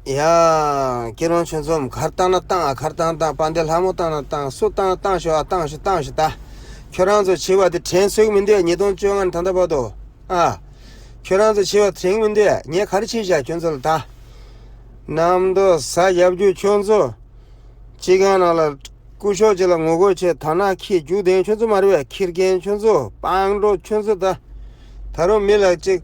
ཡང། ཀྱེ་རོང་ཆུ་འཛོམ་གར་བཏང་ན་བཏང་ཨ་གར་བཏང་བཏང་སྤང་སྡེ་ལྷ་མོ་བཏང་ན་བཏང་སུ་བཏང་བཏང་ཞོག་ཨ་བཏང་ཞུ་བཏང་ཞུ་ད། ཁྱོད་རང་ཚོ་བྱིས་པ་འདི་དྲན་ཚུགས་མི་འདོད་ཉིས་སྟོང་བཅོ་ལྔར་ད་ལྟ་བབ་འདུག་ཨ། ཁྱོད་རང་ཚོ་བྱིས་པ་དྲན་མི་འདོད་ངས་ག་རེ་བྱས་བཞག་ཁྱོད་ཚོ་ལ་ད། གནམ་མདོ་ས་རྒྱབ་རྒྱུག་ཁྱོད་ཚོ། སྤྱི་ཁང་ནང་ལ། སྐུ་ཞོགས་ཅིག་ལ་ངོ་རྒོལ་བྱས་དར་ནག་ཁྱི་རྒྱུག་ལྡན་ཁྱོད་ཚོ་མར་བས་ཁྱི་རྒན་ཁྱོད་ཚོ་སྤང་འགྲོ་ཁྱོད་ཚོ་ད། ད་རུང་མི་ལག་ཅིག།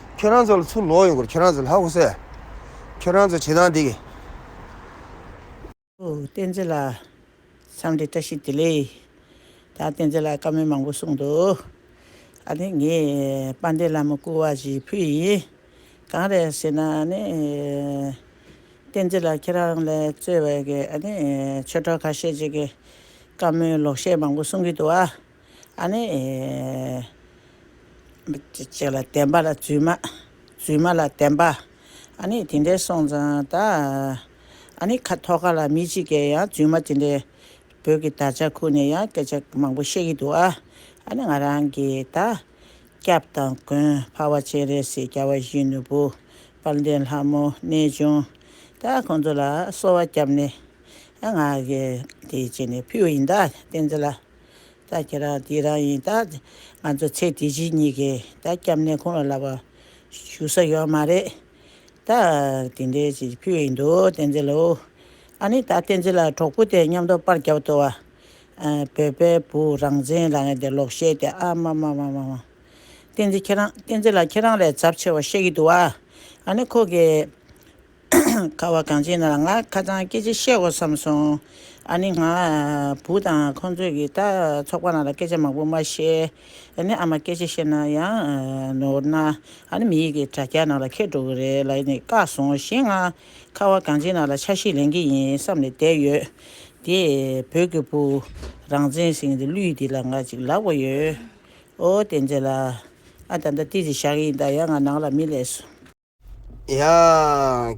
ཁྱོད་རང་ཚོ་ལ་ཚུར་ལོག་ཡོང་དགོས་རེད་ཁྱོད་རང་ཚོ་ལྷ་ཁུ་སེ། ཁྱོད་རང་ཚོ་བྱེད་སྟངས་འདི། ཨོ་བསྟན་འཛིན་ལགས། མཚམས་འདྲི་བཀྲ་ཤིས་བདེ་ལེགས། ད་བསྟན་འཛིན་ལགས་བཀའ་མོལ་མང་པོ་གསུངས་འདུག་ཨ་ནི་ངས་དཔལ་ལྡན་བླ་མ་སྐུ་བ་བཞིའི་བུ་ཡིན། གང་རེད་ཟེར་ན་ཨ་ནི། བསྟན་འཛིན་ལགས་ཁྱེད་རང་ལས་གཙོས་བའི་གི་ཨ་ནི་ཆོས་གྲོགས་ཁ་ཤས་ཅིག་གིས་བཀའ་མོལ་ལོག་བཤད་མང་པོ་གསུངས་ཀྱི་འདུག་ཨ། ཨ་ནི། ཅེས་ལ་བདེན་པ་ལ་བརྫུས་མ། བརྫུས་མ་ལ་བདེན་པ། ཨ་ནི་དེ་འདྲའི་སོང་ཙང་ད། ཨ་ནི་ཁ་ཐོ་ཁ་ལ་མི་གཅིག་གས་ཡང་བརྫུས་མ་དེ་འདྲའི། བོད་ཀྱི་དར་ཆ་ཁུར་ནས་ཡང་སྐད་ཆ་མང་པོ་བཤད་ཀྱི་འདུག་ཨ། ཨ་ནི་ང་རང་གིས་ད། སྐྱབས་དང་མགོན་འཕར་བ་ཆེ་རེད་ཟེར་སྐྱ་བ་བཞིའི་ནོར་བུ། དཔལ་ལྡན་ལྷ་མོ་གནས་ཆུང། ད་ཁོང་ཚོ་ལ་གསོལ་བ་བརྒྱབ་ནས། ང། དེ་བྱས་ནས་ཕུལ་བ་ཡིན་ད་བསྟན་ཟེར་ལ། ད་ཁྱེད་རང་དེ་རང་ཡིན་ད། ང་ཚོ་ཚེ་འདི་ཕྱི་གཉིས་ཀའི་ད་སྐྱབས་གནས་ཁོང་ལ་ལབ་པ། ཞུ་ས་ཡོད་མ་རེད། ད། དེ་འདྲའི་ཅིག་ཕུལ་ཡིན་འདུག་བསྟན་འཛིན་ལོ། ཨ་ནི་ད་བསྟན་འཛིན་ལ་གྲོགས་པོ་དེ་མཉམ་དུ་པར་རྒྱབ་ཏུ་བ། བོད་པའི་བུ་རང་བཙན་ལ་ངས་དེ་ལོག་བཤད་དེ་ཨ་མ་མ་མ་མ་མ། བསྟན་འཛིན་ཁྱེད་རང་བསྟན་འཛིན་ལ་ཁྱེད་རང་ལས་ཚབ་ཆེ་བ་བཤད་ཀྱི་འདུག་བ། ཨ་ནི་ཁོ་གི། ཁ་བ་གངས་ཅན་ལ་ང་ཁ་ཚང་སྐད་ཆ་བཤད་འོ་བསམ་སོང། ཨ་ནི་ང་བུ་དང་ཁོང་ཚོས་ཀྱི་ད་ཚོགས་པ་ནང་ལ་སྐད་ཆ་མང་པོ་མ་བཤད། ཨ་ནི་ཨ་མ་སྐད་ཆ་བཤད་ན་ཡང་ནོར་ན་ཨ་ནི་མི་ཡི་གི་དྲ་རྒྱ་ནང་ལ་ཁད་འགྲོ་གི་རེད་ལ་ཨ་ནི་བཀག་སོང་གཞན་ང་ཁ་བ་གངས་ཅན་ནང་ལ་ཆ་ཤས་ལེན་གི་ཡིན་བསམ་ནས་བསྡད་ཡོད། དེ་བོད་ཀྱི་བུ་རང་བཙན་ཟིང་གི་ལུས་འདི་ལ་ང་ཅིག་ལབ་གི་ཡོད། ཨོ་བསྟན་འཛིན་ལགས་ཨ་ད་ལྟ་ཏི་རི་བཞག་གི་ཡིན་ད་ཡ་ང་ནང་ལ་མི་ལས་སོ། ཡ།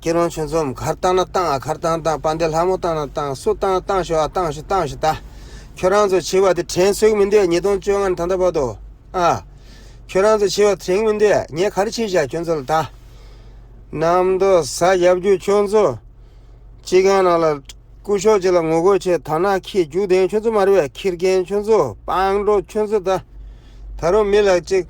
སྐྱིད་རོང་ཆོས་འཛོམས་གར་བཏང་ན་བཏང་ཨ་གར་བཏང་བཏང་དཔའ་འདེ་ལྷ་མོ་བཏང་ན་བཏང་སུ་བཏང་བཏང་ཞོ་ཨ་བཏང་ཞུ་བཏང་ཞུ་ད། ཁྱོད་རང་ཚོ་བྱིས་པ་དེ་དྲན་གསོས་མི་འདོད་ཉིས་སྟོང་བཅོ་ལྔ་ནི་ད་ལྟ་བར་དུ་ཨ། ཁྱོད་རང་ཚོ་བྱིས་པ་དྲན་མི་འདོད་ངས་ག་རེ་བྱས་བཞག་ཁྱོད་ཚོ་ལ་ད། གནམ་མདོ་ས་རྒྱབ་རྒྱུ་ཁྱོད་ཚོ། སྤྱི་ཁང་ནང་ལ། སྐུ་ཞོགས་ཅིག་ལ་ངོ་རྒོལ་བྱས་ད་ནག་ཁྱི་རྒྱུག་ལྡན་ཁྱོད་ཚོ་མ་རེད་བས་ཁྱི་རྒན་ཁྱོད་ཚོ་སྤང་འགྲོ་ཁྱོད་ཚོ་ད། ད་རུང་མི་ལག་ཅིག།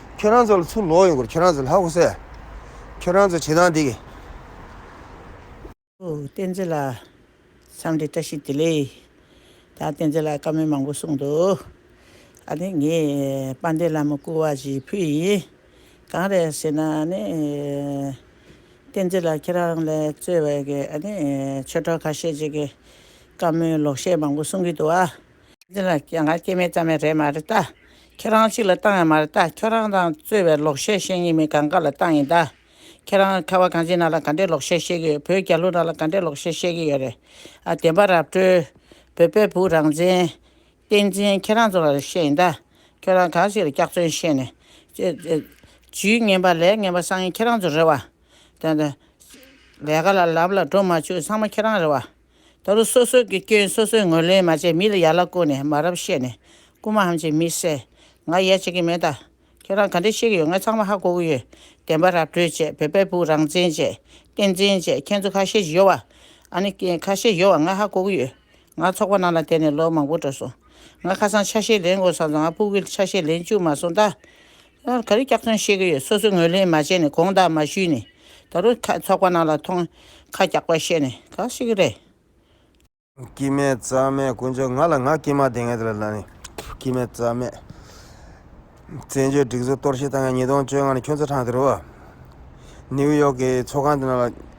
ཁྱོད་རང་ཚོ་ལ་ཚུར་ལོག་ཡོང་དགོས་རེད་ཁྱོད་རང་ཚོ་ལྷ་ཁུ་སེ། ཁྱོད་རང་ཚོ་བྱེད་སྟངས་འདི་གི། བསྟན་འཛིན་ལགས། མཚམས་འདྲི་བཀྲ་ཤིས་བདེ་ལེགས། ད་བསྟན་འཛིན་ལགས་བཀའ་མོལ་མང་པོ་གསུངས་འདུག་ཨ་ནི་ངས་དཔལ་ལྡན་བླ་མ་སྐུ་དབང་བཞིའི་བུ་ཡིན། གང་རེད་ཟེར་ན་ནི། བསྟན་འཛིན་ལགས་ཁྱེད་རང་ལས་གཙོས་བའི་གི་ཨ་ནི་ཆོས་གྲོགས་ཁ་ཤས་ཅིག་གིས་བཀའ་མོལ་ལོག་བཤད་མང་པོ་གསུངས་ཀྱི་འདུག་ཨ། འདི་ལ་སྐྱེ་འགག་སྐྱེ་མེད་ཙམ་ཡང་རེད་མ་རེད་ད། ཁྱེད་རང་གཅིག་ལ་བཏང་ཡང་མ་རེད་ད་ཁྱོད་རང་དང་རྩོད་བའི་ལོག་བཤད་བཤད་ངེས་མིན་གང་ག་ལ་བཏང་ཡིན་ད། ཁྱེད་རང་ཁ་བ་གངས་ཅན་ནང་ལ་ག་འདྲའི་ལོག་བཤད་བཤད་གི་ཡོད་བོད་རྒྱ་ལུ་ནང་ལ་ག་འདྲའི་ལོག་བཤད་བཤད་གི་ཡོད་རེད་ཨ། བདེན་པ་རབ་བཀྲོལ། བོད་པའི་བུ་རང་བཙན། བསྟན་འཛིན་ཁྱེད་རང་ཚོ་ལ་བཤད་ཡིན་ད། ཁྱོད་རང་གང་ཞིག་ལ་སྐྱག་རྫུན་བཤད་ནས། ཇུས་ངན་པ་ལས་ངན་པ་སང་ཡིན་ཁྱེད་རང་ཚོ་རེད་བ། ལས་ཀ་ལ་ལམ་ལ་འགྲོ་མ་བཅུག་སང་མ་ཁྱེད་རང་རེད་བ། ད་ལོ་སོ་སོ་གི་སྐྱོན་སོ་སོས་ངོས་ལེན་མ་བྱེད་མི་ལ་ཡ་ལ་བསྐུར་ནས་མ་རབས་བཤད་ནས་རྐུ་མ་ཧམ་བྱེད་མི་བསད་ང་ཡ་བྱེད་ཀྱི་མེད་ད་ཁྱེད་རང་ག་འདྲས་བཤད་ཀྱི་ཡོད་ང་ཚང་མ་ཧ་གོ་གི་ཡོད་བདེན་པ་ར་སྤྲོད་བྱེད་བོད་པའི་བུ་རང་བཙན་བྱེད་བསྟན་འཛིན་བྱེད་ཁྱེད་ཚོ་ཁ་ཤས་གཡོ་བ་ཨ་ནི་ཁ་ཤས་གཡོ་བ་ང་ཧ་གོ་གི་ཡོད་ང་ཚོགས་པ་ནང་ལ་དེད་ནས་ལོ་མང་པོ་འགྲོ་སོང་ང་ཁ་སང་ཆ་ཤས་ལེན་དགོས་བསམ་སོང་ང་སྤུ་གུ་ཆ་ཤས་ལེན་བཅུག་མ་སོང་ད་སླར་ག་རེ་སྐྱག་རྫུན་བཤད་གི་ཡོད་སོ་སོས་ངོས་ལེན་མ་བྱས་ནས་དགོངས་དག་མ་ཞུས་ནས་ད་རུ་ཁ་ཚོགས་པ་རྣམས་ལ་ཐོང་ཁ་སྐྱག་པ་བཤད་ནས་ག་ཞིག་གི་རེད། སྐྱིད་མེད་རྩ་མེད་དཀོན་མཆོག་ང་ལ་ང་སྐྱིད་མ་དེ་ངས་དེ་ལ་ལ་ནི། སྐྱིད་མེད་རྩ་མེད། བཙན་བྱོལ་སྒྲིག་བཟོ་གཏོར་བཤིག་བཏང་ཡང་ཉིས་སྟོང་བཅོ་ལྔ་ནས་ཁྱོད་ཚོ་ཁྲང་དེ་རུ་བ། ནིའུ་ཡོག་གི་ཚོགས་ཁང་དེ་རྣམས་ལ།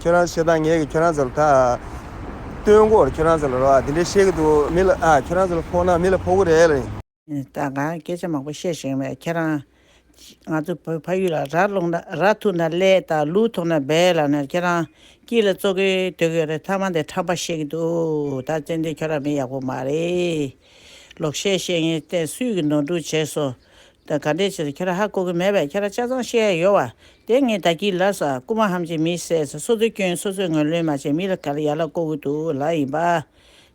ཁྱོད་རང་ཚོས་ད་ངས་ཀྱི་ཁྱོད་རང་ཚོ་ལ་ད། སྟོན་འགོར་ཁྱོད་རང་ཚོ་ལ་རོ་འདི་འདྲ་བཤད་ཀྱི་འདུག་མི་ལ་ཨ་ཁྱོད་རང་ཚོ་ལ་ཕོག་ན་མི་ལ་ཕོག་གི་རེད་ལ། ད་ང་སྐད་ཆ་མང་པོ་བཤད་བཞིན་པས་ཁྱེད་རང། ང་ཚོ་བོད་ཕ་ཡུལ་ལ་ར་སློང་ན་ར་ཐུག་ན་ཀླད་དང་ལུས་ཐོག་ན་སྦས་ལ་ནས་ཁྱེད་རང། སྐྱིད་ལ་བཙོ་གི་སྡོད་གི་རེད་ཐ་མ་འདི་ཁྲམ་པ་བཤད་ཀྱི་འདུག་ད་ཙན་དན་ཁྱོད་རང་མི་ཡག་པོ་མ་རེད། ལོག་བཤད་བཤད་ངས་བསྟན་སུས་ཀྱི་ནོར་འཁྲུལ་བྱས་སོ། ད་ག་འདྲའི་ཕྱིར་ཁྱེད་ར་ཧ་གོ་གི་མེད་པས་ཁྱེད་ར་ཆ་ཚང་བཤད་ཡ་ཡོད་བ། དེ་ངས་ད་གྱིས་ལབ་ས་རྐུ་མ་ཧམ་ཅིག་མི་བསད་ས་སོ་སོའི་སྐྱོན་སོ་སོས་ངོས་ལོན་མ་བྱས་མི་ལ་ག་ར་ཡ་ལ་གོ་གི་འདུག་ལ་ཡིན་པ།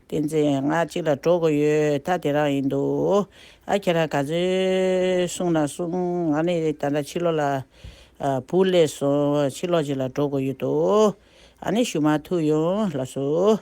བསྟན་འཛིན་ང་གཅིག་ལ་འགྲོ་གི་ཡོད་ད་དེ་རང་ཡིན་འདུག་ཨ་ཁྱེད་ར་ག་ཚོད་གསུང་ན་གསུང་ང་ནི་ད་ལྟ་ཕྱི་ལོག་ལ་བུ་བསླེས་སོང་ཕྱི་ལོག་ཅིག་ལ་འགྲོ་གི་ཡོད་འདུག་ཨ་ནི་ཞུ་མ་ཐུབ་ཡོང་ལབ་སོ།